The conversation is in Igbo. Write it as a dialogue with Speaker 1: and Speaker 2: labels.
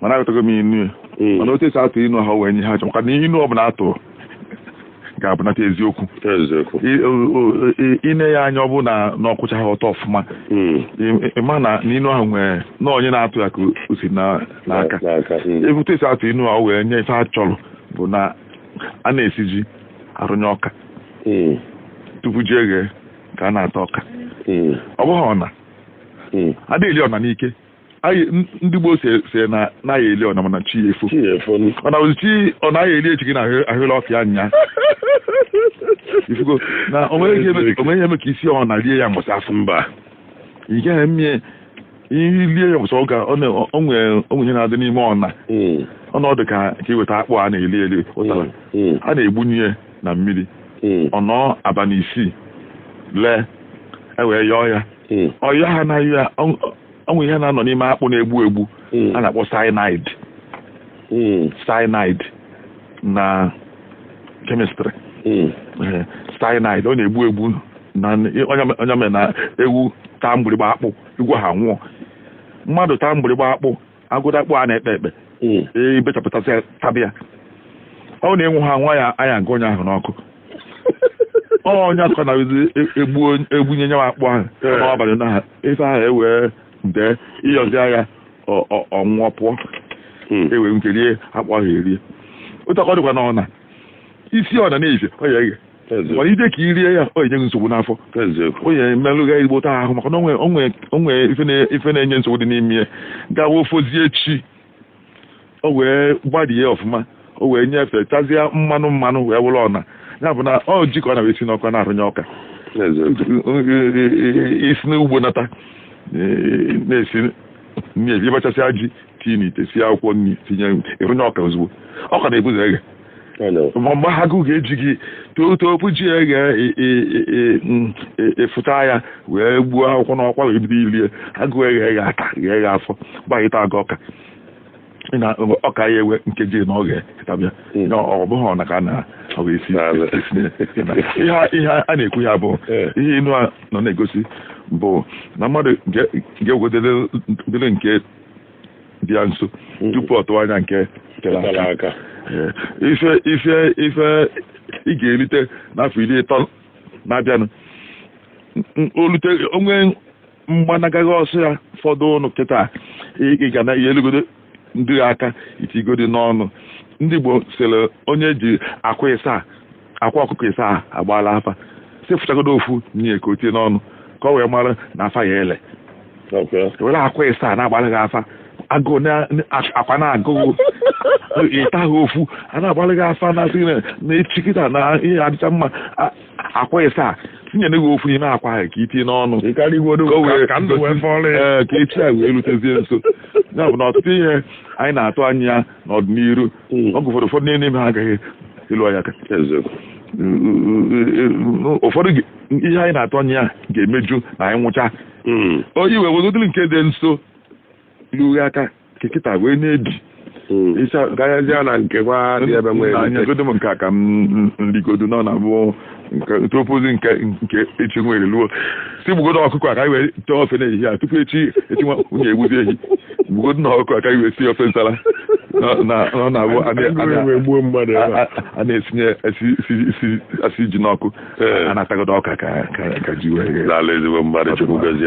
Speaker 1: mana aghọtago m inu ya hmm. mana otu esi atụ inu ahụ wee nye ihe a chọ maka na inu ọbụla atụ ga-abụnata eziokwu ine ya anya ọ bụ na ọ kwụchaha ọtọ ọfụma hmm. ịma na inu ahụ nwere na onye na-atụ ya ka o si n'aka hmm. etu esi atụ inu ahụ wee nye ife a chọrọ bụ na a na-esi ji arụnye ọka tupu ji eghe ka a na-ata ọka ọ bụghị ọna adịghị eli ọna n'ike anyị ndị Igbo sị sị na anaghị eli ọna mana chi ya efo chi ya efo nụ. mana ozi chi ọ naghị eli echi gị na ahụ- ahụla ọfịa nya ifugo na o nwere ihe eme- o nwere ihe eme ka i sie ọna lie ya mbọsị afụ mba ị gaghị eme ihe lie ya mbọsị ọ ga ọ na- ọ nwere o nwere ihe na-adị n'ime ọna Mm, ọ na-adị ka ka i weta akpụ a na-eli eli ụtara mm, a na-egbunye ya na mmiri mm. ọ nọọ abalị isii lee e wee yọọ ya hmm. ọyọ ha na ya o nwe ihe na-anọ n'ime akpụ na-egbu egbu hmm. a na-akpọ cyanide hmm. cyanide na kemịstrị cyanide ọ na-egbu egbu ọ nya mere na ewu taa mgbịrịgbọ akpụ igwe ha nwụọ mmadụ taa mgbịrịgbọ akpụ agụda akpụ a na-ekpe ekpe hmm. e, i bechapụtasị tabịa ọ na-enwu ha nwa ya anya nke onye ahụ n'ọkụ ọ nya ka a na-egbunye nya bụ akpụ ahụ n'abalị na ha ife ahụ ewee dee ị yọzie ya o wee pụọ hmm. ewee nwee ike rie akpụ ahụ erie otu a ka ọ dịkwa na ọna i sie ọna na-efe ọ ya eghe mana ide ka i rie ya o nye gị nsogbu n'afọ ọ ya-emerụ gị igbo taa ahụ maka na o nwe ife na-enye nsogbu dị n'ime ya gawa o fozie chi o wee gbadie ọfụma o wee nyefee tazie mmanụ mmanụ wee wụrụ ọna ya bụ na ọ ji ka a na-esi n'ọkụ na-arụnye ọka i si n'ugbo nata na-esi nri ị bachasịa ji tii n'ite sie akwụkwọ nri tinye ị rụnye ọka ozugbo ọka na-ebu ụzọ eghe mgbe agụụ ga-eji gị tupu ji eghe efuta ya wee gbuo akwụkwọ n'ọkwa wee bido ilie agụụ eghe ghe aka ghe ghe afọ gbaghịta aga ọka na ọka ya ewe nkeji na ọ ga-etabịa ọ bụghị ọna ka na ọ ga-esi ihe a na-ekwu ya bụ ihe inu a nọ na-egosi bụ na mmadụ ga-egwedere nke dị ya nso mm. tupu ọ tụwa anya nke tere aka ife ife ife ị ga-erite n'afọ iri ịtọ na-abịanụ o lute o nwee gbanaga gị ọsọ ya fọdụ ụnụ kịta ị ga na-elugodo ndị a aka i tiigodi n'ọnụ ndị Igbo sịrị onye ji akwa ịsa akwa ọkụkọ isaa agbaala afa sị fụchagodo ofu nye ka o tie n'ọnụ ka o wee mara na afa ya ele were akwa isaa na-agbara gị afa agụụ akwa na-agụ gị ịta ha ofu a na-agbara gị afa na-asị na echi kịta na ihe adịcha mma akwa isaa tinyere gị ofu n'ime akwa ahụ ka i tinye n'ọnụ ka echi a wee rutezie nso ya bụ na ọtụtụ ihe anyị na-atụ anya n'ọdịnihu hmm. oge ụfọdụ ụfọdụ n'ime ha agaghị elu anyị aka ụfọdụ ihe anyị na-atụ anya ya ga-emeju na anyị nwụcha hmm. onye iwe wegodịrị nke dị nso lu gị aka kekịta wee na-ebi hmm.
Speaker 2: ịcha gaghazia na nke nwa dị ebe nwere nyegodo m nke a ka
Speaker 1: m rigodo n'ọ na-abụ tupuzi nke nke echi e wee luo sị gbugodo ọkụkọ a ka i wee tee ofe n'ehihie a tupu echi echi nwa nwunye egbuzi ehi gbugodo na ọkụkọ a ka i wee sie ofe nsala na- na- na ọ na-abụ a na- a Ndị na- wee gbuo mmadụ ebe a. a- a na-esinye esi- esi- esi-
Speaker 2: esi
Speaker 1: ji n'ọkụ Ee.
Speaker 2: a
Speaker 1: na-atagodo ọka ka ka- ka
Speaker 2: ji wee
Speaker 1: ghe. Lala ezigbo
Speaker 2: mmadụ
Speaker 1: Chukwu gọzie